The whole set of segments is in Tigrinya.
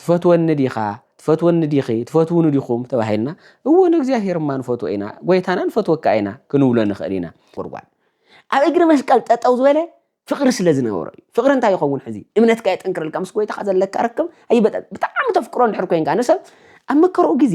ትፈትወኒ ዲኻ? ትፈትወኒ ዲኺ? ትፈትዉኒ ዲኹም? ተባሂልና፣ እወ ንእግዚኣብሄር እማ ንፈትዎ ኢና፣ ጐይታና ንፈትወካ ኢና ክንብሎ ንኽእል ኢና። ጒድጓድ ኣብ እግሪ መስቀል ጠጠው ዝበለ ፍቕሪ ስለ ዝነበሮ እዩ። ፍቕሪ እንታይ ይኸውን ሕዚ? እምነትካ የጠንክረልካ፣ ምስ ጐይታኻ ዘለካ ርክብ ኣይበጠ ብጣዕሚ ተፍቅሮ እንድሕር ኮይንካ ንሰብ ኣብ መከርኡ ግዜ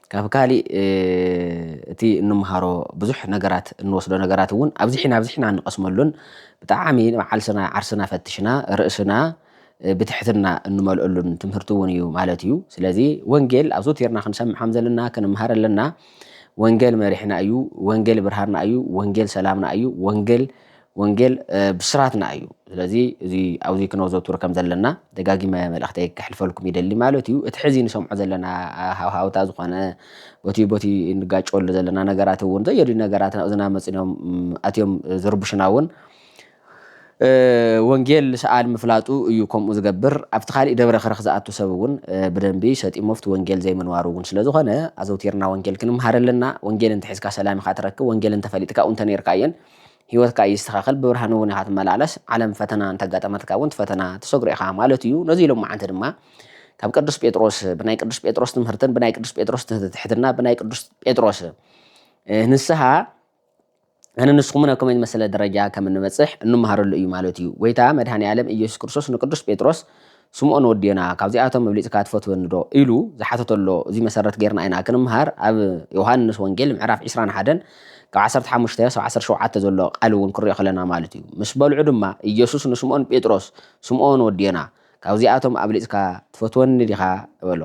ካብ ካሊእ እቲ እንምሃሮ ብዙሕ ነገራት እንወስዶ ነገራት እውን ኣብዚሕና ኣብዚሕና እንቐስመሉን ብጣዕሚ ንባዓልስና ዓርስና ፈትሽና ርእስና ብትሕትና እንመልኦሉን ትምህርቲ እውን እዩ ማለት እዩ። ስለዚ ወንጌል ኣብዞቲርና ክንሰምዕ ከም ዘለና ክንምሃር ኣለና። ወንጌል መሪሕና እዩ፣ ወንጌል ብርሃንና እዩ፣ ወንጌል ሰላምና እዩ፣ ወንጌል ወንጌል ብስራትና እዩ። ስለዚ እዚ ኣብዚ ክነዘውትሮ ከም ዘለና ደጋጊመ መልእኽተይ ከሕልፈልኩም ይደሊ ማለት እዩ። እቲ ሕዚ ንሰምዖ ዘለና ሃውሃውታ ዝኾነ ቦቲ ቦቲ እንጋጨወሉ ዘለና ነገራት እውን ዘየድልዩ ነገራት ናብ እዝና መፅን እዮም ኣትዮም ዝርብሹና እውን ወንጌል ሰኣን ምፍላጡ እዩ ከምኡ ዝገብር። ኣብቲ ካሊእ ደብረ ከረኽ ዝኣቱ ሰብ እውን ብደንቢ ሰጢሙ ኣብቲ ወንጌል ዘይምንባሩ እውን ስለ ዝኾነ ኣዘውቲርና ወንጌል ክንምሃር ኣለና። ወንጌል እንተሒዝካ ሰላም ኢኻ ትረክብ። ወንጌል እንተፈሊጥካ ኣብኡ እንተነይርካ እየን ህይወትካ ይስተኻኸል ብብርሃን እውን ኢኻ ትመላለስ ዓለም ፈተና እንተጋጠመትካ እውን ትፈተና ትሰግሮ ኢኻ ማለት እዩ ነዚ ሎማዓንቲ ድማ ካብ ቅዱስ ጴጥሮስ ብናይ ቅዱስ ጴጥሮስ ትምህርትን ብናይ ቅዱስ ጴጥሮስ ትሕትና ብናይ ቅዱስ ጴጥሮስ ንስሓ ኣነ ንስኹምን ኣብ ከመይ ዝመሰለ ደረጃ ከም እንበፅሕ እንመሃረሉ እዩ ማለት እዩ ጎይታ መድሃኒ ዓለም ኢየሱስ ክርስቶስ ንቅዱስ ጴጥሮስ ስምኦን ወዴና ካብዚኣቶም ኣብሊጽካ ትፈትወኒ ዶ ኢሉ ዝሓተቶ ኣሎ እዚ መሰረት ጌርና ኢና ክንምሃር ኣብ ዮውሃንስ ወንጌል ምዕራፍ ዕስራን ሓደን ካብ ዓሰርተ ሓሙሽተ ክሳብ ዓሰርተ ሸውዓተ ዘሎ ቃል እውን ክንሪኦ ከለና ማለት እዩ ምስ በልዑ ድማ ኢየሱስ ንስምኦን ጴጥሮስ ስምኦን ወዴና ካብዚኣቶም ኣብሊጽካ ትፈትወኒ ዲኻ በሎ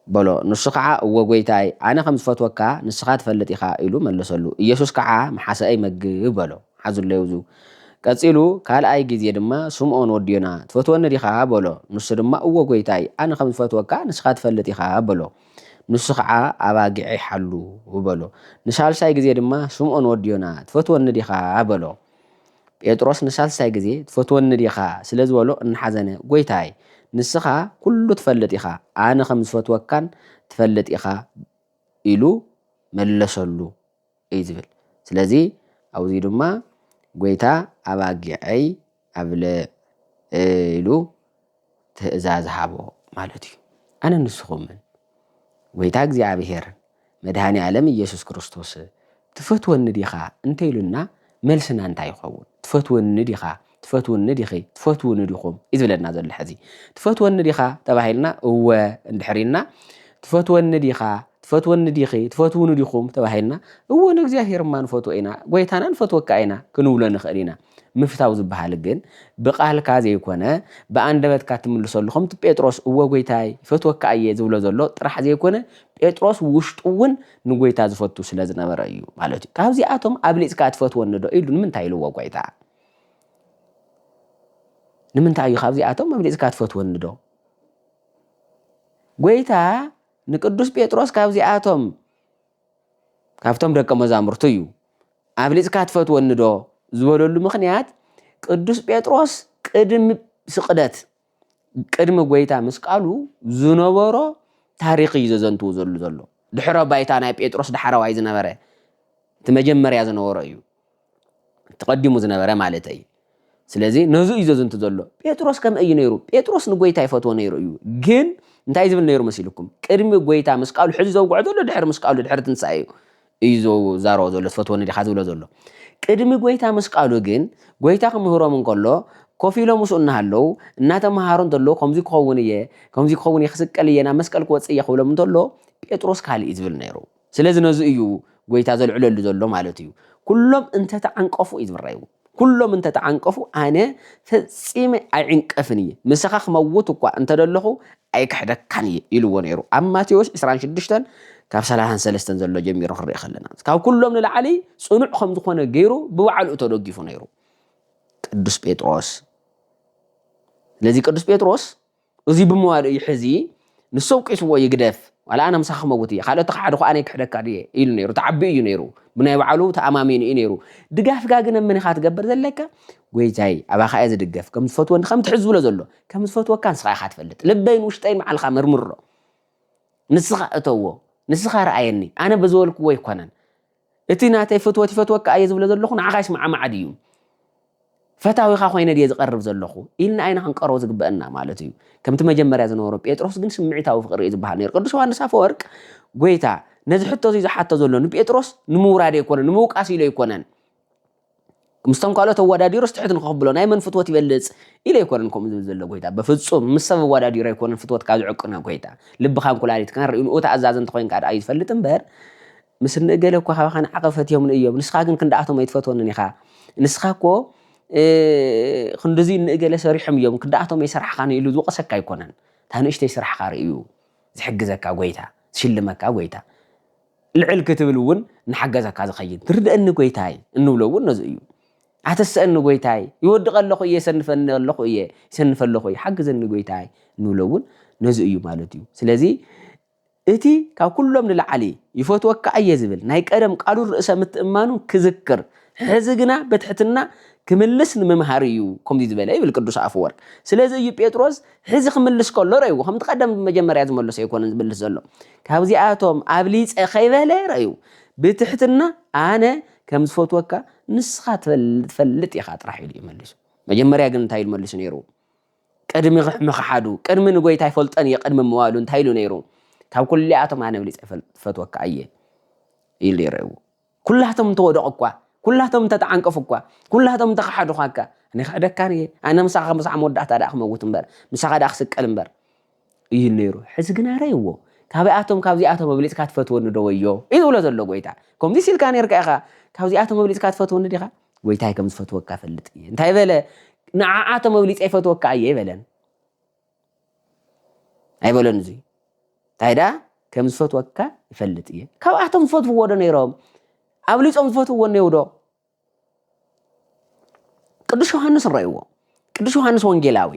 በሎ። ንሱ ኸዓ፣ እወ ጐይታይ፣ ኣነ ኸም ዝፈትወካ፣ ንስኻ ትፈልጥ ኢኻ፣ ኢሉ መለሰሉ። ኢየሱስ ከዓ፣ ምሓሰኣይ መግብ፣ በሎ። ሓዙለይ ኣብዙ። ቀጺሉ፣ ካልኣይ ጊዜ ድማ፣ ስምኦን ወዲ ዮና፣ ትፈትወኒ ዲኻ? በሎ። ንሱ ድማ፣ እወ ጐይታይ፣ ኣነ ኸም ዝፈትወካ፣ ንስኻ ትፈልጥ ኢኻ፣ በሎ። ንሱ ኸዓ፣ ኣባጊዐይ ሓሉ፣ በሎ። ንሳልሳይ ጊዜ ድማ፣ ስምኦን ወዲ ዮና፣ ትፈትወኒ ዲኻ? በሎ። ጴጥሮስ ንሳልሳይ ግዜ ትፈትወኒ ዲኻ? ስለ ዝበሎ እናሓዘነ፣ ጐይታይ፣ ንስኻ ኵሉ ትፈልጥ ኢኻ፣ ኣነ ኸም ዝፈትወካን ትፈልጥ ኢኻ ኢሉ መለሰሉ እዩ ዝብል። ስለዚ፣ ኣብኡ ድማ ጐይታ ኣባጊዐይ ኣብልዕ ኢሉ ትእዛዝ ሃቦ ማለት እዩ። ኣነን ንስኹምን ጐይታ እግዚኣብሔር መድኃኔ ዓለም ኢየሱስ ክርስቶስ ትፈትወኒ ዲኻ እንተ ኢሉና መልስና እንታይ ይኸውን? ትፈትወኒ ዲኻ? ትፈትውኒ ዲኺ? ትፈትውኒ ዲኹም? እዩ ዝብለና ዘሎ ሕዚ። ትፈትወኒ ዲኻ ተባሂልና እወ እንድሕር ኢልና ትፈትወኒ ዲኻ? ትፈትወኒ ዲኺ? ትፈትውኒ ዲኹም? ተባሂልና እወ ንእግዚኣብሔር እማ ንፈትዎ ኢና፣ ጐይታና ንፈትወካ ኢና ክንብሎ ንኽእል ኢና። ምፍታው ዝበሃል ግን ብቃልካ ዘይኮነ ብኣንደበትካ እትምልሰሉ ከምቲ ጴጥሮስ እወ ጎይታይ ይፈትወካ እየ ዝብሎ ዘሎ ጥራሕ ዘይኮነ ጴጥሮስ ብውሽጡ እውን ንጎይታ ዝፈቱ ስለዝነበረ እዩ ማለት እዩ ካብዚኣቶም ኣብሊፅካ ትፈትወኒ ዶ ኢሉ ንምንታይ ኢልዎ ጎይታ ንምንታይ እዩ ካብዚኣቶም ኣብሊፅካ ትፈትወኒ ዶ ጎይታ ንቅዱስ ጴጥሮስ ካብዚኣቶም ካብቶም ደቀ መዛሙርቱ እዩ። ኣብሊጽካ ትፈትወኒዶ ዝበለሉ ምኽንያት ቅዱስ ጴጥሮስ ቅድሚ ስቕደት ቅድሚ ጐይታ ምስቃሉ ዝነበሮ ታሪኽ እዩ ዘዘንትው ዘሉ ዘሎ ድሕረ ባይታ ናይ ጴጥሮስ ዳሕረዋይ ዝነበረ እቲ መጀመርያ ዝነበሮ እዩ። ተቐዲሙ ዝነበረ ማለተይ እዩ። ስለዚ ነዙ እዩ ዘዝንቱ ዘሎ ጴጥሮስ ከምይ እዩ ነይሩ ጴጥሮስ ንጎይታ ይፈትዎ ነይሩ እዩ ግን እንታይ ዝብል ነይሩ መሲልኩም ቅድሚ ጎይታ ምስ ቃሉ ሕዚ ዘውግዖ ዘሎ ድሕሪ ምስ ቃሉ ድሕሪ ትንሳኤ እዩ እዩ ዘዛረቦ ዘሎ ትፈትወኒ ዲኻ ዝብሎ ዘሎ ቅድሚ ጎይታ ምስ ቃሉ ግን ጎይታ ክምህሮም እንከሎ ኮፍ ኢሎም ምስኡ እናሃለዉ እናተምሃሩ እንተሎ ከምዚ ክኸውን እየ ከምዚ ክኸውን እየ ክስቀል እየ ናብ መስቀል ክወፅእ እየ ክብሎም እንተሎ ጴጥሮስ ካልእ እዩ ዝብል ነይሩ ስለዚ ነዚ እዩ ጐይታ ዘልዕለሉ ዘሎ ማለት እዩ። ኵሎም እንተ ተዓንቀፉ እዩ ዝብል ራእዩ። ኵሎም እንተ ተዓንቀፉ ኣነ ፈጺመ ኣይዕንቀፍን እየ፣ ምሳኻ ክመውት እኳ እንተ ደለኹ ኣይክሕደካን እየ ኢልዎ ነይሩ። ኣብ ማቴዎስ ዕስራን ሽዱሽተን ካብ ሰላሳን ሰለስተን ዘሎ ጀሚሩ ክንርኢ ከለና ካብ ኵሎም ንላዕሊ ጽኑዕ ከም ዝዀነ ገይሩ ብባዕሉ እዩ ተደጊፉ ነይሩ ቅዱስ ጴጥሮስ። ስለዚ ቅዱስ ጴጥሮስ እዚ ብምባሉ'ዩ ሕዚ ንሱ ኣውቂስዎ ይግደፍ ዋላ ኣነ ምሳኻ ክመውት እየ ካልኦት ተኻሓድኹ ኣነ ክሕደካ ድየ ኢሉ ነይሩ ተዓቢኡ እዩ ነይሩ ብናይ ባዕሉ ተኣማሚኑ እዩ ነይሩ ድጋፍካ ግን መን ኢኻ ትገብር ዘለካ ጎይታይ ኣባኻ እየ ዝድገፍ ከም ዝፈትወኒ ከምቲ ሕዚ ዝብሎ ዘሎ ከም ዝፈትወካ ንስኻ ኢኻ ትፈልጥ ልበይን ውሽጠይን ባዕልኻ መርምሮ ንስኻ እተዎ ንስኻ ርኣየኒ ኣነ ብዝበልክዎ ኣይኮነን እቲ ናተይ ፍትወት ይፈትወካ እየ ዝብሎ ዘለኹ ንዓኻ ይስማዕማዕ ድዩ ፈታዊኻ ኮይነ ድየ ዝቐርብ ዘለኹ ኢልና ኣይና ክንቀርቦ ዝግበእና ማለት እዩ ከምቲ መጀመርያ ዝነበሮ ጴጥሮስ ግን ስምዒታዊ ፍቕሪ እዩ ዝበሃል ነይሩ ቅዱስ ዮሃንስ ኣፈወርቅ ጎይታ ነዚ ሕቶ እዚ ዝሓቶ ዘሎ ንጴጥሮስ ንምውራድ ኣይኮነን ንምውቃስ ኢሉ ኣይኮነን ምስቶም ካልኦት ኣወዳዲሩስ ትሑት ንክኽብሎ ናይ መን ፍትወት ይበልጽ ኢለ ኣይኮነን ከምኡ ዝብል ዘሎ ጎይታ በፍጹም ምስ ሰብ ኣወዳዲሩ ኣይኮነን ፍትወትካ ዝዕቅኖ ጎይታ ልብኻን ኩላሊትካን ርኢንኡ ተኣዛዚ እንተኾይንካ ድኣ እዩ ዝፈልጥ እምበር ምስ እኒ እገለ እኮ ካባኻ ንዓቐብ ፈትዮምኒ እዮም ንስኻ ግን ክንድኣቶም ኣይትፈትወንን ኢኻ ንስኻ እኮ ክንድዚ እኒ እገለ ሰሪሖም እዮም ክንድኣቶም ኣይሰራሕኻን ኢሉ ዝወቕሰካ ኣይኮነን እታ ንእሽተይ ስራሕኻ ርእዩ ዝሕግዘካ ጎይታ ዝሽልመካ ጎይታ ልዕል ክትብል እውን እናሓገዘካ ዝኸይድ ትርደእኒ ጎይታይ እንብሎ እውን ነዚ እዩ። ኣተሰእኒ ጎይታይ ይወድቐ ኣለኹ እየ የሰንፈኒ ኣለኹ እየ ይሰንፈ ኣለኹ እየ ሓግዘኒ ጎይታይ እንብሎ እውን ነዚ እዩ ማለት እዩ። ስለዚ እቲ ካብ ኩሎም ንላዕሊ ይፈትወካ እየ ዝብል ናይ ቀደም ቃሉን ርእሰ ምትእማኑን ክዝክር ሕዚ ግና በትሕትና ክምልስ ንምምሃር እዩ ከምዚ ዝበለ ይብል ቅዱስ ኣፈወርቅ ስለዚ እዩ ጴጥሮስ ሕዚ ክምልስ ከሎ ረይዎ ከምቲ ቀደም መጀመርያ ዝመለሶ ኣይኮነን ዝምልስ ዘሎ ካብዚኣቶም ኣብሊፀ ከይበለ ረዩ ብትሕትና ኣነ ከም ዝፈትወካ ንስኻ ትፈልጥ ኢኻ ጥራሕ ኢሉ እዩ መሊሱ መጀመርያ ግን እንታይ ኢሉ መሊሱ ነይሩ ቅድሚ ምኽሓዱ ቅድሚ ንጎይታ ይፈልጠን እየ ቅድሚ ምዋሉ እንታይ ኢሉ ነይሩ ካብ ኩሊኣቶም ኣነ ኣብሊፀ ፈትወካ እየ ኢሉ ይረእዎ ኩላቶም እንተወደቑኳ፣ ኩላቶም እንተተዓንቀፉኳ፣ ኩላቶም እንተኸሓዱዃካ፣ ኣነ ክሕደካን እየ፣ ኣነ ምሳኻ ምሳዕ መወዳእታ ደኣ ክመውት እምበር፣ ምሳኻ ደኣ ክስቀል እምበር። ይብል ነይሩ። ሕዚ ግና ረእይዎ። ካብኣቶም ካብዚኣቶም ኣብሊጽካ ትፈትወኒ ዶ ወዮ እዩ ዝብሎ ዘሎ ጎይታ። ከምዚስ ኢልካ ነይርካ ኢኻ፣ ካብዚኣቶም ኣብሊጽካ ትፈትወኒ ዲኻ? ጎይታይ ከም ዝፈትወካ እፈልጥ እየ። እንታይ በለ? ንዓኣቶም ኣብሊጸ ይፈትወካ እየ ኣይበለን። ኣይበሎን እዚ እንታይ ደኣ ከም ዝፈትወካ ይፈልጥ እየ ካብኣቶም ዝፈትውዎ ዶ ነይሮም ኣብሊፆም ዝፈትውዎ እኔው ዶ ቅዱስ ዮሃንስ ንረእይዎ ቅዱስ ዮሃንስ ወንጌላዊ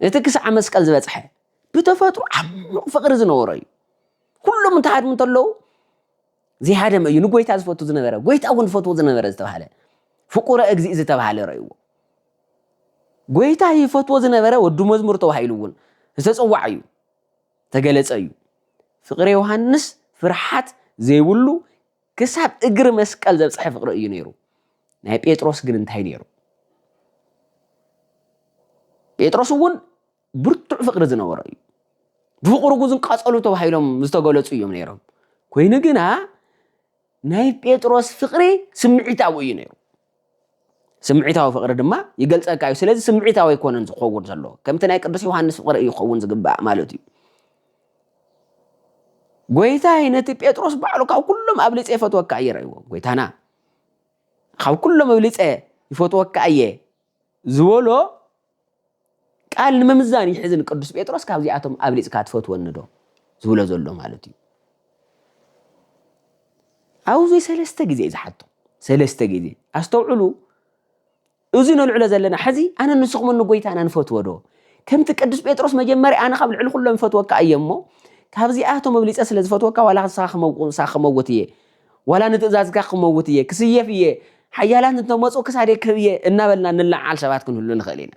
እቲ ክሳዕ መስቀል ዝበፅሐ ብተፈጥሮ ዓሚቕ ፍቕሪ ዝነበሮ እዩ ኩሎም እንተሃድሙ እንተለዉ ዘይሃደመ እዩ ንጎይታ ዝፈቱ ዝነበረ ጎይታ እውን ዝፈትዎ ዝነበረ ዝተባሃለ ፍቁረ እግዚእ ዝተባሃለ ረእይዎ ጎይታ ይፈትዎ ዝነበረ ወዱ መዝሙር ተባሂሉ እውን ዝተጸዋዕ እዩ ተገለጸ እዩ ፍቅሪ ዮሃንስ ፍርሓት ዘይብሉ ክሳብ እግሪ መስቀል ዘብጽሐ ፍቅሪ እዩ ነይሩ ናይ ጴጥሮስ ግን እንታይ ነይሩ ጴጥሮስ እውን ብርቱዕ ፍቅሪ ዝነበሮ እዩ ብፍቅሪ ጉዝን ቀጸሉ ተባሂሎም ዝተገለጹ እዮም ነይሮም ኮይኑ ግና ናይ ጴጥሮስ ፍቅሪ ስምዒታዊ እዩ ነይሩ ስምዒታዊ ፍቕሪ ድማ ይገልጸካ እዩ። ስለዚ ስምዒታዊ ኣይኮነን ዝኸውን ዘሎ፣ ከምቲ ናይ ቅዱስ ዮሃንስ ፍቕሪ እዩ ክኸውን ዝግባእ ማለት እዩ። ጎይታይ ነቲ ጴጥሮስ ባዕሉ ካብ ኩሎም ኣብሊጸ ይፈትወካ እየ ረእይዎ ጎይታና ካብ ኩሎም ኣብሊጸ ይፈትወካ እየ ዝበሎ ቃል ንምምዛን ይሕዝን ቅዱስ ጴጥሮስ ካብዚኣቶም ኣብሊጽካ ትፈትወኒዶ ዝብሎ ዘሎ ማለት እዩ ኣብዚ ሰለስተ ግዜ እዩ ዝሓቶ ሰለስተ ግዜ ኣስተውዕሉ እዚ ነልዕሎ ዘለና ሕዚ ኣነ ንስኹም ንጎይታና ንፈትዎ ዶ ከምቲ ቅዱስ ጴጥሮስ መጀመርያ ኣነ ካብ ልዕሊ ኩሎም ይፈትወካ እየ እሞ ካብዚኣቶም ኣብሊፀ ስለ ዝፈትወካ ዋላ ንስኻ ክመውት እየ ዋላ ንትእዛዝካ ክመውት እየ፣ ክስየፍ እየ፣ ሓያላት እንተመፁ ክሳደይ ክህብ እየ እናበልና ንለዓዓል ሰባት ክንህሉ ንኽእል ኢና።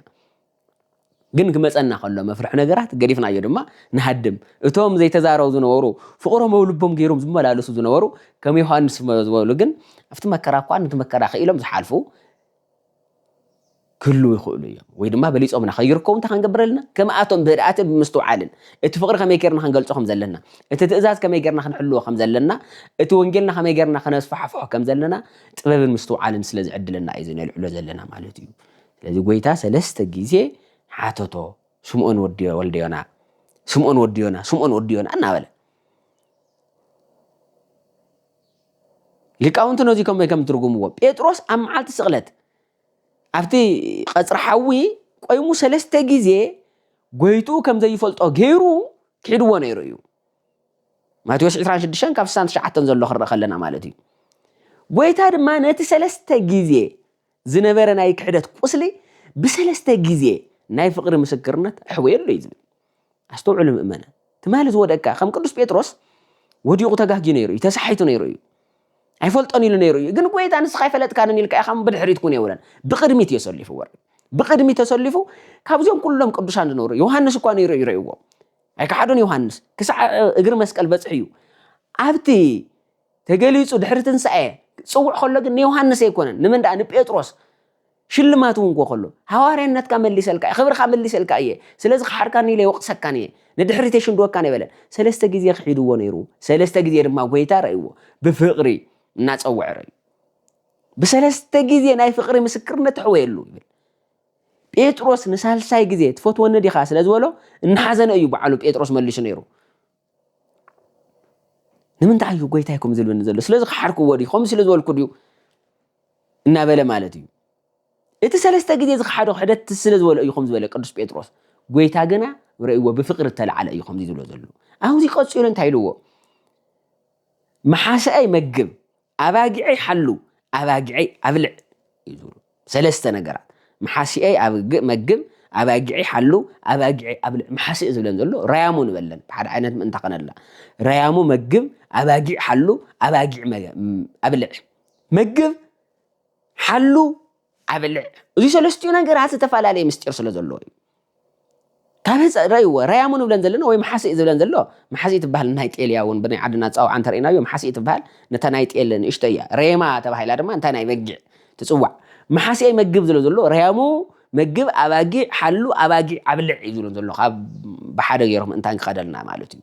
ግን ክመፀና ከሎ መፍርሒ ነገራት ገዲፍናዮ ድማ ንሃድም። እቶም ዘይተዛረቡ ዝነበሩ፣ ፍቕሮም ኣብ ልቦም ገይሮም ዝመላለሱ ዝነበሩ ከም ዮሃንስ ዝበሉ ግን ኣብቲ መከራ እኳ ነቲ መከራ ክኢሎም ዝሓልፉ ክህልው ይኽእሉ እዮም ወይ ድማ በሊፆምና ከይርከቡ እንታይ ክንገብር ኣለና ከምኣቶም ብህድኣትን ብምስትውዓልን እቲ ፍቕሪ ከመይ ጌርና ክንገልፆ ከም ዘለና እቲ ትእዛዝ ከመይ ጌርና ክንሕልዎ ከም ዘለና እቲ ወንጌልና ከመይ ጌርና ከነስፋሕፍሖ ከም ዘለና ጥበብን ምስትውዓልን ስለ ዝዕድለና እዩ ዝነልዕሎ ዘለና ማለት እዩ ስለዚ ጎይታ ሰለስተ ግዜ ሓተቶ ስምኦን ወዲ ወልደ ዮና ስምኦን ወዲ ዮና ስምኦን ወዲ ዮና እናበለ ሊቃውንቲ ነዚ ከመይ ከም ትርጉምዎ ጴጥሮስ ኣብ መዓልቲ ስቕለት ኣብቲ ቐጽሪ ሓዊ ቆይሙ ሰለስተ ግዜ ጎይትኡ ከም ዘይፈልጦ ገይሩ ክሒድዎ ነይሩ እዩ ማቴዎስ 26 ካብ 69 ዘሎ ክረእ ከለና ማለት እዩ ጎይታ ድማ ነቲ ሰለስተ ግዜ ዝነበረ ናይ ክሕደት ቁስሊ ብሰለስተ ግዜ ናይ ፍቕሪ ምስክርነት ኣሕወየሉ እዩ ዝብል። ኣስተውዕሉ ምእመናን፣ ትማሊ ዝወደቅካ ከም ቅዱስ ጴጥሮስ ወዲቑ ተጋግዩ ነይሩ እዩ፣ ተሳሒቱ ነይሩ እዩ፣ ኣይፈልጦን ኢሉ ነይሩ እዩ፣ ግን ጐይታ ንስኻ ኣይፈለጥካንን ኢልካ ኢኻ እሞ ብድሕሪት ኩን የብለን፣ ብቕድሚት እዩ ኣሰሊፉ ወሪዱ። ብቕድሚት ተሰሊፉ ካብዚኦም ኩሎም ቅዱሳን ዝነበሩ ዮሃንስ እኳ ነይሩ እዩ ረእይዎም። ኣይከሓዶን ዮሃንስ ክሳዕ እግሪ መስቀል በጽሑ እዩ ኣብቲ ተገሊጹ ድሕሪ ትንሳኤ ክጽውዕ ከሎ ግን ንዮሃንስ ኣይኮነን ንመን ደኣ ንጴጥሮስ ሽልማት እውን ኮ ከሎ ሃዋርያነትካ መሊሰልካ እየ ክብርካ መሊሰልካ እየ ስለዚ ክሓርካኒ ኢለ ይወቅሰካን እየ ንድሕሪት የሽንድወካን ኣይበለን ሰለስተ ግዜ ክሒድዎ ነይሩ ሰለስተ ግዜ ድማ ጎይታ ረእይዎ ብፍቅሪ እናጸውዐ ረእዩ ብሰለስተ ግዜ ናይ ፍቅሪ ምስክርነት ተሕወየሉ ይብል ጴጥሮስ ንሳልሳይ ግዜ ትፈትወኒ ዲኻ ስለ ዝበሎ እናሓዘነ እዩ በዓሉ ጴጥሮስ መሊሱ ነይሩ ንምንታይ እዩ ጎይታይ ከምኡ ዝብለኒ ዘሎ ስለዚ ክሓርክዎ ድዩ ከምኡ ስለ ዝበልኩ ድዩ እናበለ ማለት እዩ እቲ ሰለስተ ግዜ ዝክሓዶ ክሕደት ስለ ዝበሎ እዩ ከም ዝበለ ቅዱስ ጴጥሮስ ጎይታ ግና ረእይዎ ብፍቅሪ እተለዓለ እዩ ከምዚ ዝብሎ ዘሎ ኣብዚ ቀፂሉ እንታይ ኢልዎ መሓሰአይ መግብ ኣባጊዐይ ሓሉ፣ ኣባጊዐይ ኣብልዕ እዩ ዝብሉ። ሰለስተ ነገራት መሓሲኤይ ኣብግእ መግብ፣ ኣባጊዐይ ሓሉ፣ ኣባጊዐይ ኣብልዕ። መሓሲኤ ዝብለን ዘሎ ረያሙ ንበለን ብሓደ ዓይነት ምእንታ ከነላ ረያሙ መግብ፣ ኣባጊዕ ሓሉ፣ ኣባጊዕ ኣብልዕ። መግብ ሓሉ ኣብልዕ እዚ ሰለስቲኡ ነገራት ዝተፈላለየ ምስጢር ስለ ዘለዎ እዩ ካብ ህፀ ረይዎ ረያሙ ንብለን ዘለና ወይ መሓሲእ ዝብለን ዘሎ መሓሲእ ትበሃል ናይ ጤል እያ እውን ብናይ ዓድና ፃውዓ እንተርእናዮ መሓሲእ ትበሃል ነታ ናይ ጤል ንእሽቶ እያ ረየማ ተባሂላ ድማ እንታይ ናይ በጊዕ ትፅዋዕ መሓሲእ መግብ ዝለ ዘሎ ረያሙ መግብ ኣባጊዕ ሓሉ ኣባጊዕ ኣብልዕ እዩ ዝብለን ዘሎ ካብ ብሓደ ገይሮም እንታይ ክኸደልና ማለት እዩ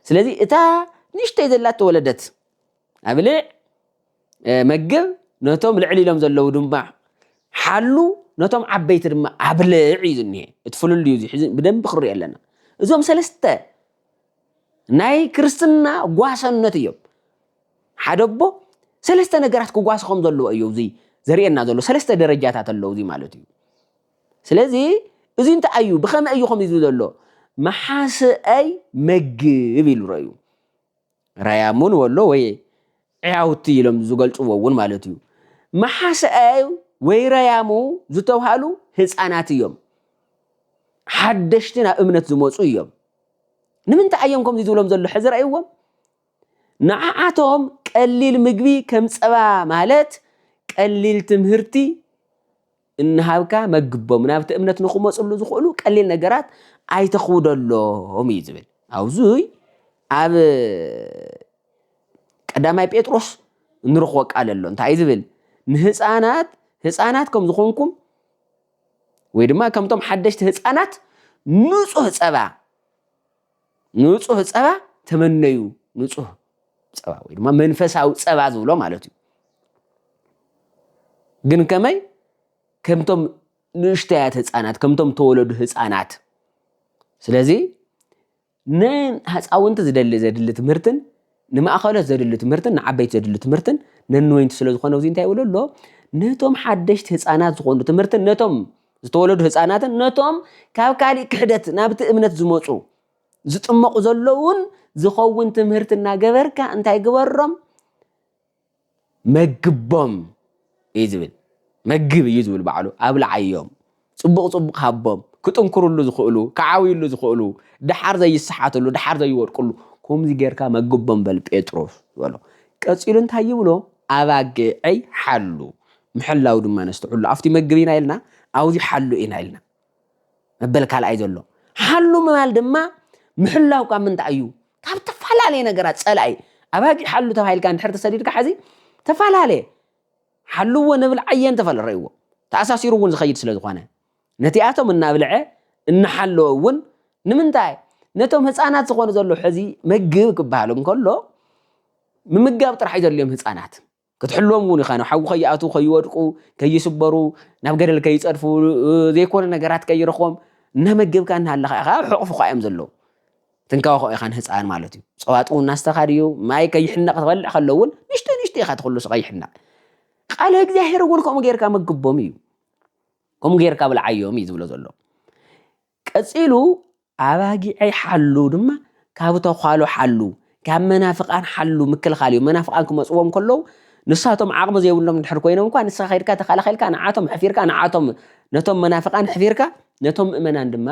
ስለዚ እታ ንእሽተይ ዘላ ተወለደት ኣብልዕ መግብ ነቶም ልዕሊ ኢሎም ዘለዉ ድማ ሓሉ ነቶም ዓበይቲ ድማ ኣብልዕ እዩ ዝኒሀ እቲ ፍልል እዩ ሕዚ ብደንቢ ክርኢ ኣለና እዞም ሰለስተ ናይ ክርስትና ጓሰነት እዮም ሓደ ኣቦ ሰለስተ ነገራት ክጓስ ከም ዘለዎ እዩ እዚ ዘርእየና ዘሎ ሰለስተ ደረጃታት ኣለዉ እዚ ማለት እዩ ስለዚ እዚ እንታይ እዩ ብኸመይ እዩ ከምዚ ዘሎ መሓስአይ መግብ ኢሉ ረእዩ ራያ ሙን ወሎ ወይ ዕያውቲ ኢሎም ዝገልጽዎ እውን ማለት እዩ። መሓሰኣይ ወይ ራያሙ ዝተብሃሉ ህጻናት እዮም። ሓደሽቲ ናብ እምነት ዝመጹ እዮም። ንምንታይ እዮም ከምዚ ዝብሎም ዘሎ ሕዚ ረእይዎም? ንዓዓቶም ቀሊል ምግቢ ከም ጸባ ማለት ቀሊል ትምህርቲ እንሃብካ መግቦም ናብቲ እምነት ንክመፅሉ ዝኽእሉ ቀሊል ነገራት ኣይተኽውደሎም እዩ ዝብል ኣብዙይ ኣብ ቀዳማይ ጴጥሮስ እንረኽቦ ቃል ኣሎ እንታይ እዩ ዝብል ንህፃናት ህፃናት ከም ዝኾንኩም ወይ ድማ ከምቶም ሓደሽቲ ህፃናት ንፁህ ፀባ ንጹህ ጸባ ተመነዩ ንጹህ ጸባ ወይ ድማ መንፈሳዊ ጸባ ዝብሎ ማለት እዩ ግን ከመይ ከምቶም ንእሽተያት ህፃናት ከምቶም ተወለዱ ህፃናት ስለዚ ንህፃውንቲ ዝደሊ ዘድሊ ትምህርትን ንማእከሎት ዘድሊ ትምህርትን ንዓበይቲ ዘድሊ ትምህርትን ነንወይንቲ ስለ ዝኾነ ኣብዚ እንታይ ይብሎ ኣሎ ነቶም ሓደሽቲ ህፃናት ዝኾኑ ትምህርትን ነቶም ዝተወለዱ ህፃናትን ነቶም ካብ ካሊእ ክሕደት ናብቲ እምነት ዝመፁ ዝጥመቑ ዘለውን ዝኸውን ትምህርቲ እናገበርካ እንታይ ግበሮም መግቦም እዩ ዝብል መግብ እዩ ዝብል ባዕሉ ኣብልዓዮም ፅቡቕ ፅቡቕ ሃቦም ክጥንክርሉ ዝኽእሉ ክዓብይሉ ዝኽእሉ ድሓር ዘይሰሓትሉ ድሓር ዘይወድቅሉ ከምዚ ጌርካ መግቦም በል ጴጥሮስ ዝበሎ ቀፂሉ እንታይ ይብሎ ኣባጊዐይ ሓሉ ምሕላው ድማ ነስተውዕሉ ኣብቲ መግብ ኢና ኢልና ኣብዚ ሓሉ ኢና ኢልና መበል ካልኣይ ዘሎ ሓሉ ምባል ድማ ምሕላው ካብ ምንታይ እዩ ካብ ተፈላለየ ነገራት ጸላኢ ኣባጊዕ ሓሉ ተባሂልካ እንድሕር ተሰዲድካ ሓዚ ተፈላለየ ሓልዎ ንብል ዓየን ተፈለረይዎ ተኣሳሲሩ እውን ዝኸይድ ስለ ዝኾነ ነቲኣቶም እናብልዐ እናሓለወ እውን ንምንታይ ነቶም ህፃናት ዝኾኑ ዘሎ ሕዚ መግብ ክበሃል እንከሎ ምምጋብ ጥራሕ እዩ ዘድልዮም ህፃናት ክትሕልዎም እውን ኢኻ ናብ ሓዊ ከይኣትዉ ከይወድቁ ከይስበሩ ናብ ገደል ከይፀድፉ ዘይኮነ ነገራት ከይረኽቦም እናመገብካ እናሃለኻ ኢኻ ኣብ ሕቑፍኻ እዮም ዘለዉ ትንከባኸ ኢኻ ንህፃን ማለት እዩ ፀዋጥ እውን ናስተኻ ድዩ ማይ ከይሕነቕ ትበልዕ ከሎ እውን ንሽቶ ንሽቶ ኢኻ ትኽሉ ከይሕነቕ ቃለ እግዚኣብሔር እውን ከምኡ ጌርካ መግቦም እዩ ከምኡ ጌርካ ብልዓዮም እዩ ዝብሎ ዘሎ ቀጺሉ ኣባጊዐይ ሓሉ ድማ ካብ ተዃሉ ሓሉ ካብ መናፍቃን ሓሉ ምክልኻል እዩ መናፍቃን ክመጽዎም ከለው ንሳቶም ዓቕሚ ዘይብሎም ድሕር ኮይኖም እኳ ንስኻ ከድካ ተኸላኺልካ ንዓቶም ሕፊርካ ንዓቶም ነቶም መናፍቃን ሕፊርካ ነቶም ምእመናን ድማ